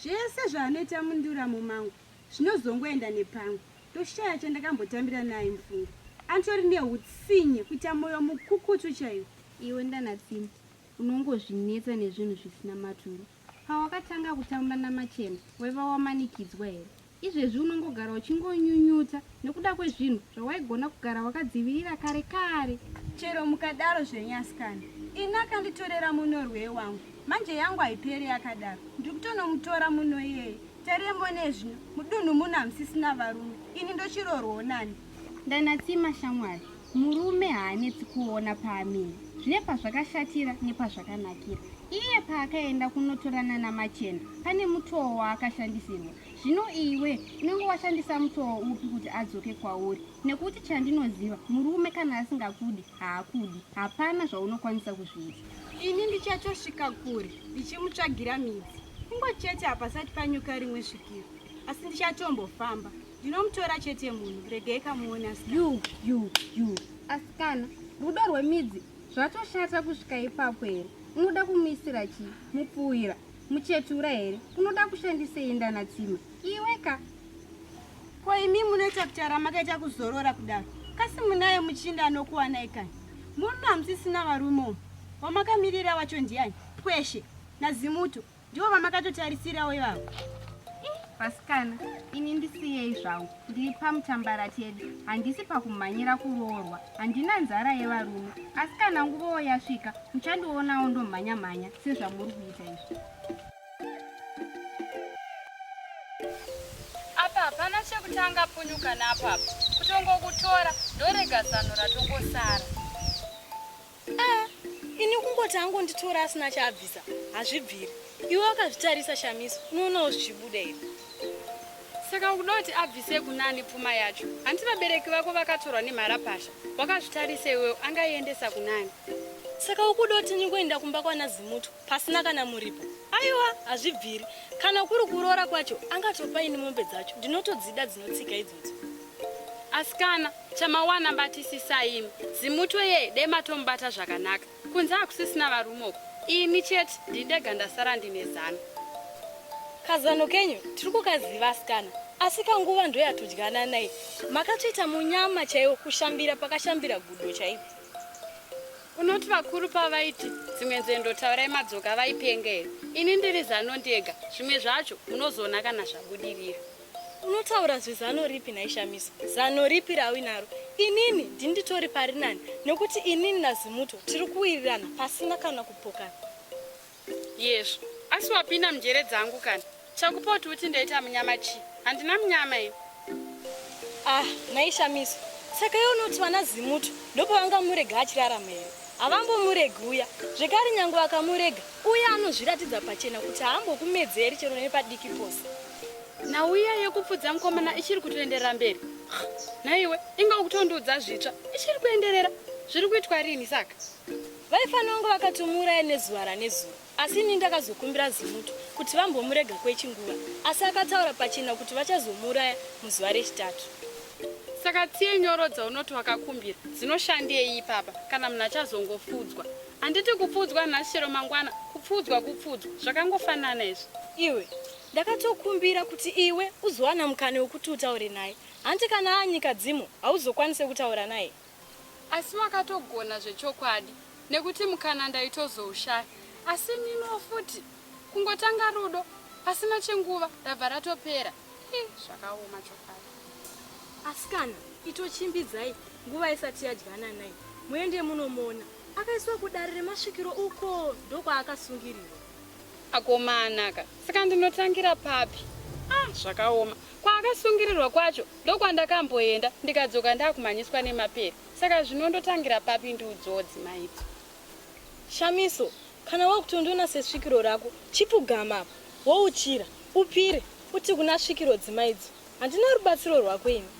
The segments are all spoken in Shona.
Zvese zvaanoita munduramo mangu zvinozongoenda nepamwe ndoshaya chandakambotambira naye mufunge. Atori nehutsinye kuita moyo mukukutu chaiwo. Iwe ndanatsini unongozvinetsa nezvinhu zvisina maturo. Pawakatanga kutamba naMachena waiva wamanikidzwa here? Izvezvi unongogara uchingonyunyuta nekuda kwezvinhu zvawaigona kugara wakadzivirira kare kare. Chero mukadaro zvenyu asikana, ini akanditorera munorwei wangu. Manje yangu haiperi yakadaro. Ndiri kutonomutora muno iyeye. Tariye mone zvino, mudunhu muno hamusisina varume. Ini ndochirorwo nani? Ndanatsima shamwari. Murume haanetsi kuona paamire zvine pazvakashatira nepazvakanakira. Iye paakaenda kunotorana namachena pane mutoo waakashandisirwa. Zvino iwe unenge washandisa mutoo upi kuti adzoke kwauri? Nekuti chandinoziva murume kana asingakudi haakudi, hapana zvaunokwanisa kuzviita. Ini ndichatosvika kure ndichimutsvagira midzi kungo chete hapasati panyuka rimwe svikiro, asi ndichatombofamba. Ndinomutora chete munhu, regai kamuone asikana. You, you, you. Asikana, rudo rwemidzi zvatoshata kusvika ipapo here? Unoda kumuisira chii? Mupfuwira, muchetura here? Unoda kushandisei ndana tsima? Iwe ka. Ko imi munoita kuti aramakaita kuzorora kudaro. Kasi munaye muchinda anokuwanai kani? Muno hamusisina varume umu. Wamakamirira wacho ndiani? Pweshe, nazimuto, Ndiwo vamakatotarisirawo ivavo. Vasikana, ini ndisiyei zvangu. Ndiri pamutambara tedi. Handisi pakumhanyira kuroorwa. Handina nzara yevarume. Asi kana nguvawo yasvika, muchandionawo ndomhanya mhanya sezvamuri kuita izvi. Apa hapana chekutanga punyuka napapa. Kutongokutora ndorega zano ratongosara. Ah, ini kungoti angonditora asina chaabvisa hazvibviri. Iwe wakazvitarisa Shamiso, unoonawo zvichibuda here? Saka ukuda kuti abvise kunani pfuma yacho? Hanti vabereki vako vakatorwa nemharapasha. Wakazvitarisa iwewo, angaiendesa kunani? Saka ukuda kuti ndingoenda kumba kwana Zimutu pasina kana muripo? Aiwa, hazvibviri. Kana kuri kuroora kwacho, angatopa ini mombe dzacho. Ndinotodzida dzinotsika idzodzo. Asikana, Chamawana batisisa imi. Zimutwe ye dai matomubata zvakanaka. Kunze hakusisina varume uko. Ini chete ndini ndega ndasara ndine zano. Kazano kenyu tiri kukaziva asikana asi kanguva ndo yatodyana naye. Makatoita munyama chaiwo kushambira pakashambira gudo chaipo. Unoti vakuru pavaiti dzimwe nzendo taurai madzoka vaipenga here? Ini ndiri zano ndega. Zvimwe zvacho munozoona kana zvabudirira. Unotaura zvezano ripi nhai Shamiso? Zano ripi rauinaro? Inini ndini nditori pari nani nekuti inini naZimuto tiri kuwirirana pasina kana kupokana. Yezvo. Asi wapinda munjere dzangu kana. Chakupa kuti uti ndaita munyama chii? Handina munyama ini. Ah, nhai Shamiso. Saka iwe unoti vana Zimuto ndopavangamurega achirarama here? Havambomuregi uya. Zvekare nyangwe vakamurega, uya anozviratidza pachena kuti haambokumedzeri chero nepadiki pose. nhau iya yekupfudza mukomana ichiri kutoenderera mberi nhaiwe inga ukutondiudza zvitsva ichiri kuenderera zviri kuitwa rini saka vaifanira kunge vakatomuuraya nezuva ranezuva asi ini ndakazokumbira zimuto kuti vambomurega kwechinguva asi akataura pachena kuti vachazomuuraya muzuva rechitatu saka tsiye nyoro dzaunoti wakakumbira dzinoshandei ipapa kana munhu achazongofudzwa handiti kupfudzwa nhasi chero mangwana kupfudzwa kupfudzwa zvakangofanana izvi iwe Ndakatokumbira kuti iwe uzowana mukana wekuti utaure naye. Hanti kana aanyika dzimu hauzokwanise kutaura naye. Asi wakatogona zvechokwadi nekuti mukana ndaitozoushaya. Asi niniwo futi kungotanga rudo pasina chenguva rabva ratopera. Hi, zvakaoma chokwadi. Asikana, itochimbidzai nguva isati yadyana naye. Muende munomuona. Akaiswa kudare remasvikiro uko ndokwaakasungirirwa. Akomana ka saka ndinotangira papi? Ah zvakaoma. Kwaakasungirirwa kwacho ndokwandakamboenda ndikadzoka ndakumhanyiswa nemapere saka zvino ndotangira papi ndiudzowo dzimai idzo. Shamiso kana wakutondiona sesvikiro rako chipfugama apa wouchira upire uti kuna svikiro dzimai idzo handina rubatsiro rwako ini.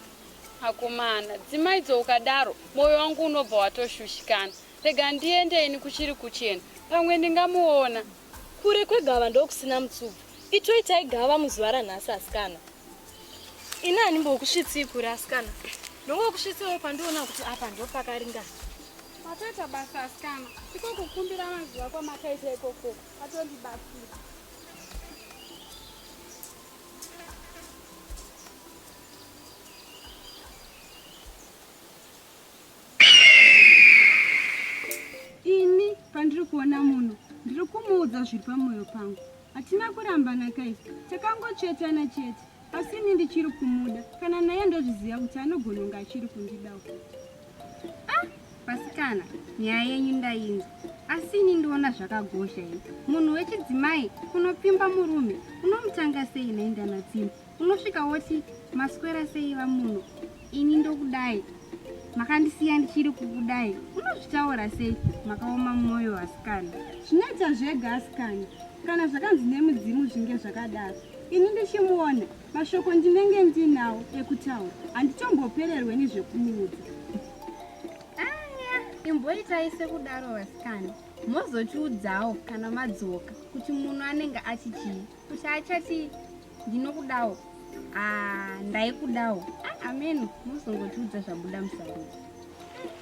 Akomana dzimai idzo ukadaro moyo wangu unobva watoshushikana Rega ndiende ini kuchiri kuchena. Pamwe ndingamuona. Kure kwegava ndokusina mutsubu. Itoitai gava muzuva ranhasi asikana. Ini handimbokusvitsii kure asikana. Ndongokusvitsiwo pandiona kuti apa ndopakaringana. Matoita basa asikana. Iko kukumbira mazuva kwamakaita ikoko. Atondibatsira. Ini pandiri kuona munhu ndiri kumuudza zviri pamwoyo pangu. Hatina kurambana guys, takangotsvetana chete. Asi ini ndichiri kumuda. Kana naye ndozviziva kuti anogona kunge achiri kundidawo. Ah, vasikana, nyaya yenyu ndainzwa. Asi ini ndiona zvakagosha ini. Munhu wechidzimai unopfimba murume unomutanga sei nendana dzimba. unosvika woti maswera sei vamuno ini ndokudai makandisiya ndichiri kukudai unozvitaura sei makaoma mwoyo asikana zvinoita zvega asikana kana zvakanzi nemudzimu zvinge zvakadaro ini ndichimuona mashoko ndinenge ndinawo ekutaura handitombopererwe nezvekumuudza imboitai sekudaro vasikana mozotiudzawo kana madzoka kuti munhu anenge achichii Kusaachati ndinokudawo. Ah, ndaikudawo. Ah, ameno muzongotiudza zvabuda musarudzi.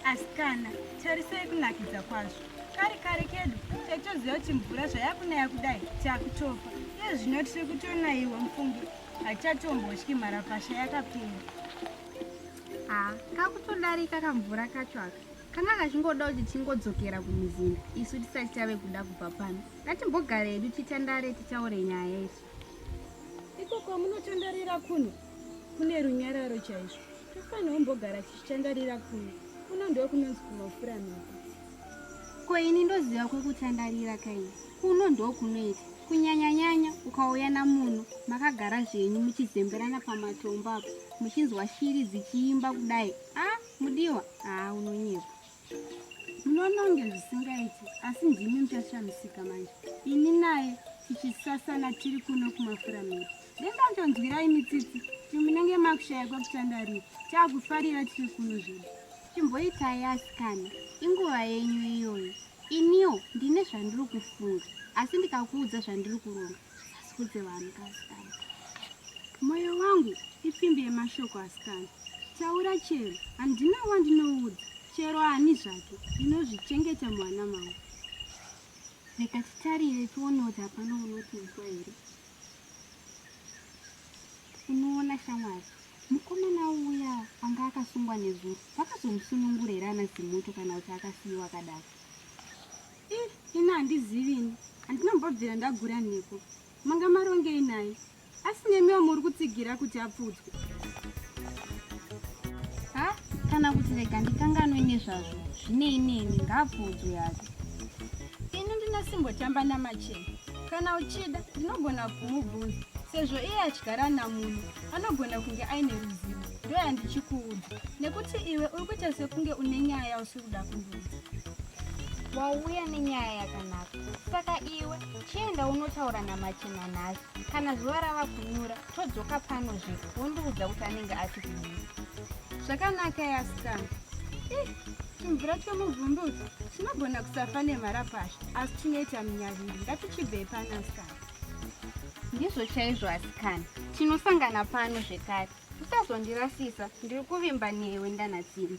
Asikana, tarisai kunakidza kwazvo. Kari kari kedu taitoziva kuti mvura zvayakunaya kudai takutofa. Iye zvino tiri kutonaiwa mufunge. Hatichatombotyi mharapasha yakapinda. Ah, kakutodarika kamvura kacho aka. Kanga kachingoda kuti tingodzokera kumuzinda isu tisati tave kuda kubva pano. Ngatimbogare hedu titandare titaure nyaya isu. Iko kwamunotandarira kuno kune runyararo chaizvo. Tofanirwa mbogara tichitandarira kuno. Kuno ndiwo kunonzi kumafura mhepo. Ko ini ndoziva kwekutandarira kaini. Kuno ndiwo kunoita. Kunyanyanyanya ukauya namuno makagara zvenyu muchizemberana pamatombo apo muchinzwa shiri dzichiimba kudai. Ah, mudiwa? Ah, unonyepa. munononge zvisingaiti asi ndimi muchashamisika manje ini naye tichisasana tiri kuno kumafura miri ndendatonzwirai mitsitsi ti munenge makushaya kwekutandarira taakufarira tiri kuno zvedu chimboitai asikana inguva yenyu iyoyo iniwo ndine zvandiri kufunga asi ndikakuudza zvandiri kuronga Ndisudze vanhu asikana. Moyo wangu ipfimbi yemashoko asikana. Taura chero, handina wandinoudza. Chero ani zvake, ndinozvichengeta mwana mangu. Reka titarire tione kuti hapana unotiudza here. Unoona shamwari, mukomana uya anga akasungwa nezuro vakazomusunungura here ana Zimuto kana kuti akasiyiwa akadaro? Eh, ini handizivi ini. Handina mbobvira ndagura nhiko. Manga marongei naye. Asi nemiwo muri kutsigira kuti apfudzwe. Ha, kana kuti rega ndikanganwe nezvazvo. Zvinei neni ngaapfudzwe hake. Ini ndina simbotamba namachena. Kana uchida ndinogona kumubvunza sezvo iye achigara namunhu anogona kunge aine ruzivo ndoyandichikuudza nekuti iwe uri kuita sekunge une nyaya yausiri kuda kundiudza wauya nenyaya yakanaka saka iwe chienda unotaura namachena nhasi kana zuva rava kunyura todzoka pano zve wondiudza kuti anenge ati kudii zvakanaka yasikana eh, chimvura chomuvhundudzo chinogona kusafa nemharapasha asi chinoita minyaviri ngatichibvei pano asikana ndizvo chaizvo asikana tinosangana pano zvekare usazondirasisa ndiri kuvimba newe ndanatsimi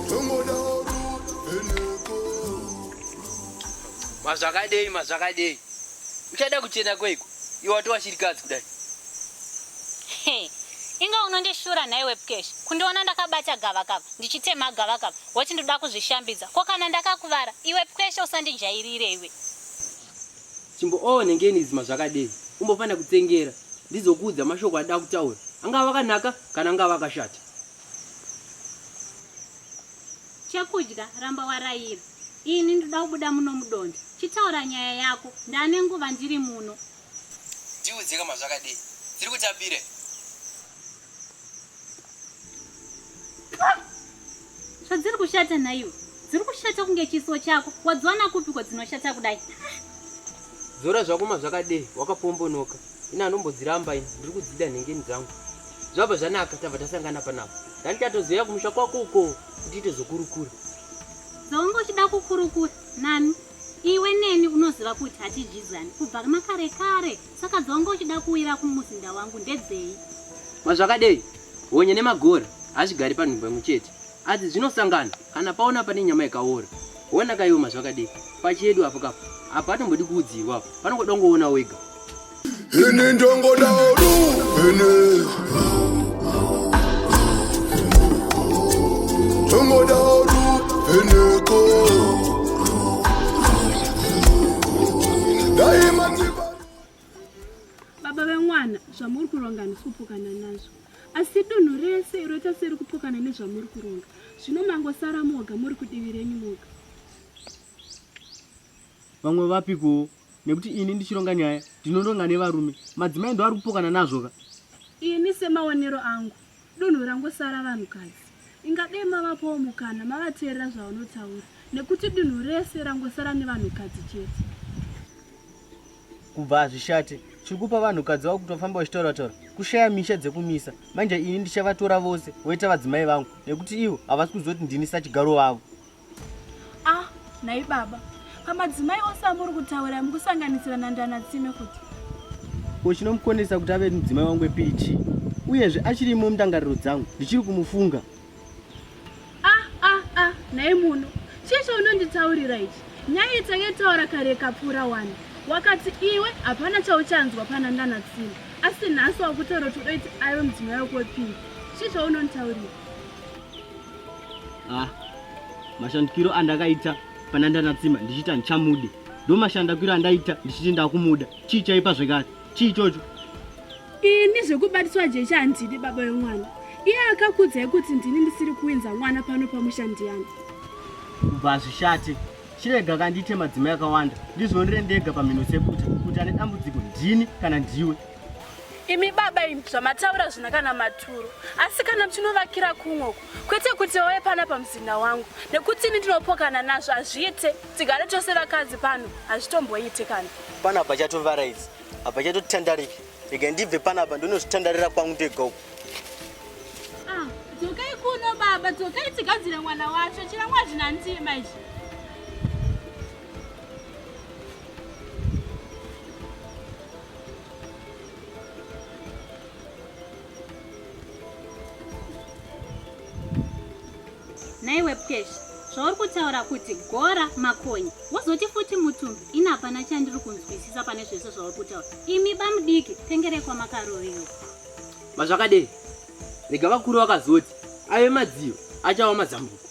mazvakadei mazvakadei uchada kuchena kweiko iwe wati washirikadzi kudai inga unondishura nhaiwe pkesh kundiona ndakabata gavakava ndichitema gavakava woti ndoda kuzvishambidza ko kana ndakakuvara iwe pkesh usandijairire iwe chimboonengeni oh, izima zvakadei umbofanira kutsengera ndizokuudza mashoko adaa kutaura angava akanaka kana angava akashata Chekudya ramba waraira. Ini ndoda kubuda muno mudonje. Chitaura nyaya yako. Ndane nguva ndiri muno. Ndiudze kama zvakadii. Tiri kutapire. Zvadziri kushata nhaiwe. Dziri kushata kunge chiso chako. Wadziwana kupi kwadzinoshata kudai? Dzora zvakoma zvakadii. Wakapombonoka. ini anombodziramba ini ndiri kudzida nhengeni dzangu zvabva zvanaka tabva tasangana panapa dani tatozoya kumusha kwako uko kuti ite zvokurukura zvaunge uchida kukurukura nani iwe neni unoziva kuti hatidyidzani kubva makare kare saka dzaunge uchida kuwira kumuzinda wangu ndedzei mazvakadei honye nemagora hazvigari panhumbo imwe chete asi zvinosangana Kana paona pane nyama yakaora wona kaioma zvakadii pachedu apo kapo apa atombodi kuudzirwa apo panongoda ungoona wega ini ndongoda ru ini ndongoda ru iniko daima baba vemwana zvamuri kuronga handisi kupokana nazvo asi dunhu rese iro tasiri kupokana nezvamuri kuronga zvino mangosara moga muri kudivi renyu moga vamwe vapikuwo nekuti ini ndichironga nyaya ndinoronga nevarume madzimai ndo ari kupokana nazvo ka ini semaonero angu Dunhu rangosara vanhukadzi. Inga dei mavapawo mukana mavateerera zvavanotaura nekuti dunhu rese rangosara nevanhukadzi chete. Kubva hazvishate. Chiri kupa vanhukadzi vavo kutofamba vachitaura taura kushaya misha dzekumisa. Manje ini ndichavatora vose voita vadzimai vangu nekuti ivo havasi kuziva kuti ndini sachigaro vavo. ah nhai baba pamadzimai ose amuri kutaura mukusanganisira nandana tsime kuti ko chinomukonesa kuti ave mudzimai wangu epichi uyezve achirimo mundangariro dzangu ndichiri kumufunga ah ah ah nhai muno chii chaunonditaurira ichi nyaya itangetaura kare kapfuura wani wakati iwe hapana chauchanzwa pana ndana tsime asi nhasi wakutoro todoiti aive mudzimai wako wepiri chii chaunonditaurira ah, mashandikiro andakaita pana ndanatsima ndichiita ndichamude ndo mashandakiro andaita ndichiti ndakumuda chii chaipa zvekare chii chocho ini zvekubatiswa jechi handidi baba yemwana iye akakudzai kuti ndini ndisiri kuinza mwana pano pamushandiyana kubva hazvishate chirega kandiite madzimai akawanda ndizvionere ndega pamhino sekuti kuti ane dambudziko ndini kana ndiwe imi baba imi zvamataura zvina kana maturo asi kana muchinovakira kumwoko kwete kuti oye pana pamuzinda wangu nekuti ini ndinopokana nazvo hazviite tigare tose vakadzi pano hazvitomboite kana pana apa chatovaraidzi apa chatotandarika rega ndibve pana apa ndonozvitandarira kwangu ndega uku ah, dzokai kuno baba dzokai tigadzire mwana wacho chirangwa zvina ndima izvi naiwe pkesh zvauri kutaura kuti gora makonye wozoti futi mutumbi ini hapana chandiri kunzwisisa pane zvese zvauri kutaura imi bamudiki pengerekwa makarovewa mazvakadei rega vakuru vakazoti ave madziyo achawa mazambuko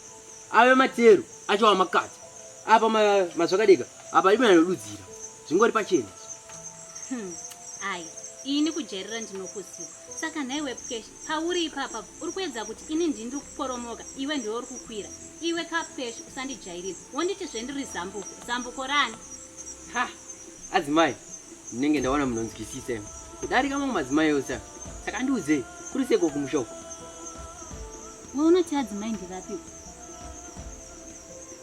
ave matero acho amakati apa mazvakadeka apa imananodudzira zvingori pachena hmm, ai ini kujairira ndinokuziva saka nhai wepkesh pauri ipapa uri kuedza kuti ini ndindi kuporomoka iwe ndiwe uri kukwira iwe kapkesh usandijairira wonditi zvendiri zambuko zambuko rani ha adzimai ndinenge ndaona munonzwisisa imi kudarika mamwe madzimai ose saka ndiudzei kuri seko kumushoko Iwe unoti adzimai ndirapi?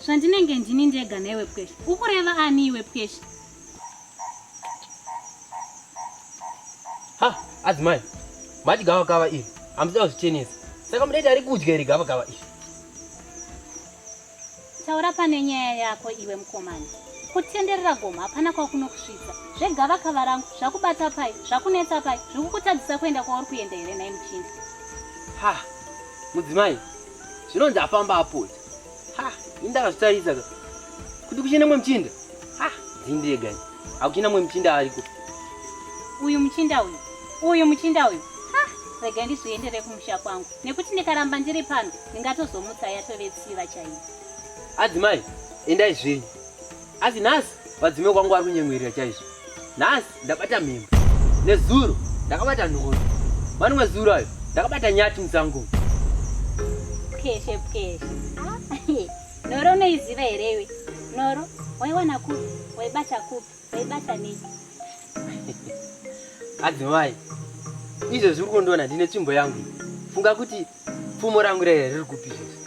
Zvandinenge ndini ndega newe pwesha. Ukureva ani iwe pwesha? Ha, adzimai. Mati gava kava iri. Amusida kuzvichenesa. Saka mudaita ari kudya iri gava kava iri. Taura pane nyaya yako iwe mukomana. Kutenderera gomo hapana kwakunokusvitsa. Zvegava kava rangu zvakubata pai zvakunetsa pai zvikukutadzisa kuenda kwauri kuenda here nhai muchinda. Ha mudzimai zvinonzi afamba apota. Ha ini ndakazvitaridza kuti kuchine mwe muchinda. Ha dzindiregai. Hakuchina mwe muchinda ariko. Uyu muchinda uyu. Uyu muchinda uyu. Ha, rega ndizviendere kumusha kwangu. Nekuti ndikaramba ndiri pano, ndingatozomutsa yatove tsiva chaiyo. Adzimai, endai zvenyu. Asi nhasi vadzime kwangu ari kunyemwerera chaizvo. Nhasi ndabata mhembe. Nezuro ndakabata nhoro. Mani mwezuro ayo ndakabata nyati musango. Pkeshe pkeshe. Ah, Nhoro unoiziva here iwe? Nhoro waiwana kupi? Waibata kupi? Waibata nei? Adzimai, izvo zviri kundiona ndine tsvimbo yangu. Funga kuti pfumo rangu raiya riri kupi izvezvi?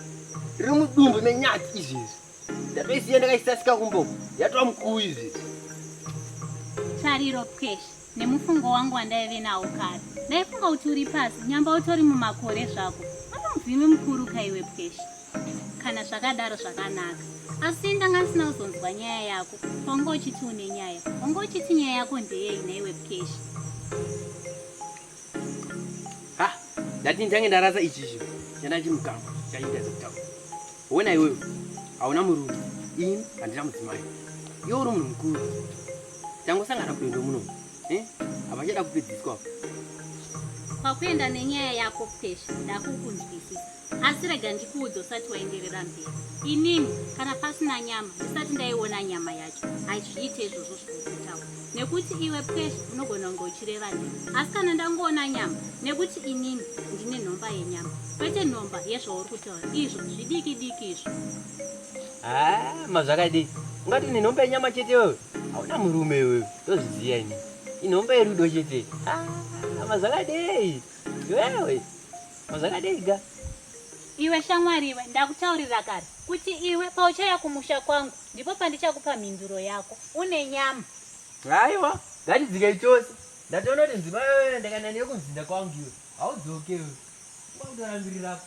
Riri mudumbu menyati izvezvi. Ndatoisiya ndakaisasika kumboku. Yatova mukuu izvezvi. Tariro pweshe. Nemufungo wangu wandaive nawo kare ndaifunga kuti uri pasi nyamba utori mumakore zvako pane muvhimi mukuru kaiwe pwesha kana zvakadaro zvakanaka asi ndanga ndisina kuzonzwa nyaya yako wanga uchiti une nyaya wanga uchiti nyaya yako ndeyei naiwe pwesha ha ndati ndange ndarasa ichizvi chandachimukama chaindaza kutaura Wena iwewe hauna murume, ini handina mudzimai, iwe uri munhu mukuru. Tangosangana kudondo muno eh? hapachada kupedziswa. Kwakuenda nenyaya yako Pesha, ndakukunzwisisa asi rega ndikuudza usati waenderera mberi. Inini kana pasina nyama ndisati ndaiona nyama yacho, hazviite izvozvo zvokutaura nekuti iwe pwezvo unogona kunge uchireva neni asi kana ndangoona nyama nekuti inini ndine nhomba yenyama kwete nhomba yezvauri kutaura izvo zvidiki diki izvo haa mazvakadii ungati une nhomba yenyama chete iwewe hauna murume iwewe ndozviziva ini inhomba yerudo chete mazvakadei iwewe mazvakadei ga Iwe shamwari iwe, ndakutaurira kare kuti iwe pauchauya kumusha kwangu ndipo pandichakupa mhinduro yako. Une nyama. Aiwa, ngatidzikei tose. Ndatoona kuti nzima yoyo ndakaenda neyo kumuzinda kwangu iwe. Haudzoke iwe. Kwakutora mbiri rako.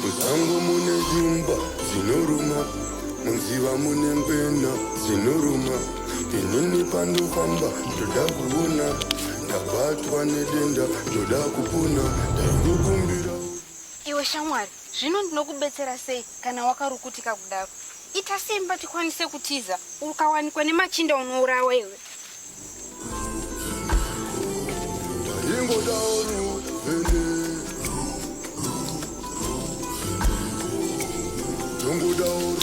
Musango mune shumba dzinoruma, munziva mune ngwena dzinoruma. Inini pandofamba ndoda kuona, ndabatwa nedenda ndoda kupona, ndaikukumbira. Iwe shamwari, zvino ndinokubetsera sei kana wakarukutika kudaro? Ita simba tikwanise kutiza. Ukawanikwa nemachinda unourawa iwe. Don't go down.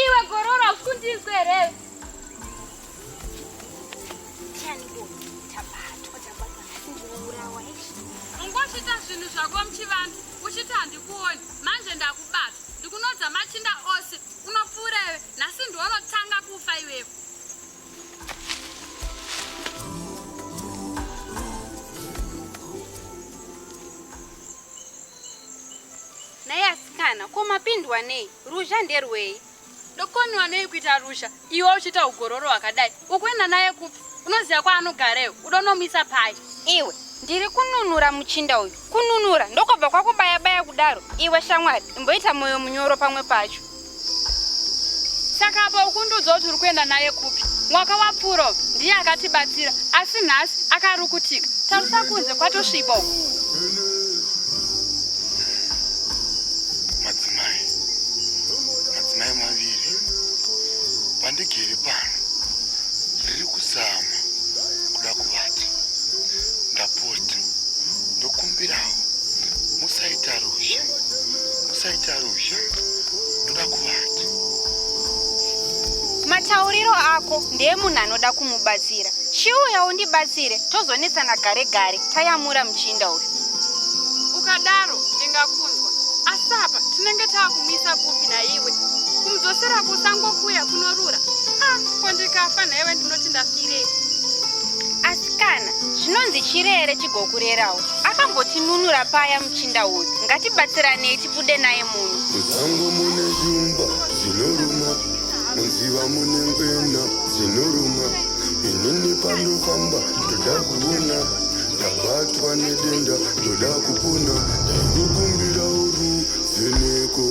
Iwe gorora usikundinzwe here? Ungosvita zvinhu zvako muchivanhu uchiti handikuoni manje ndakubata ndikunodza machinda ose unopfuureve nhasi ndiwonotanga kufa iwevo Nhai asikana, ko mapindwa nei? Ruzha nderwei? Ndokonwa nei kuita ruzha iwe uchiita ugororo hwakadai? Ukuenda naye kupi? Unoziva kwaanogareyo? Uda unomuisa pai? Iwe, ndiri kununura muchinda uyu. Kununura? Ndokobva kwakubaya-baya kudaro? Iwe shamwari, imboita moyo munyoro pamwe pacho. saka apa ukundiudza kuti uri kuenda naye kupi mwaka wapfuura ndiye akatibatsira asi nhasi akarukutika tarisa kunze kwatosviba uku madzimai madzimai maviri vandigere pano riri kuzama kuda kuvata ndapota ndokumbirawo musaita ruzha musaita ruzha ndoda kuvati matauriro ako ndeye munhu anoda kumubatsira chiuya undibatsire tozonetsana gare gare tayamura muchinda uyu ukadaro ndingakunzwa asi apa tinenge taakumisa kupi naiwe kumudzosera kusango kuya kunorura a ah, ko ndikafa nhaiwe ndinoti ndafirei asikana zvinonzi chirere chigokurerawo akambotinunura paya muchinda uyu ngatibatsiranei Tibude naye munhu. Musango mune shumba dzinoruma, munziva mune ngwena dzinoruma. Inini pandofamba ndoda kuona, ndabatwa nedenda ndoda kupona, ndaikukumbira uru vheneko.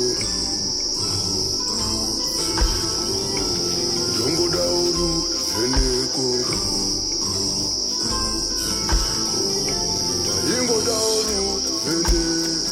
Ndongoda uru vheneko. Ndaingoda uru vheneko.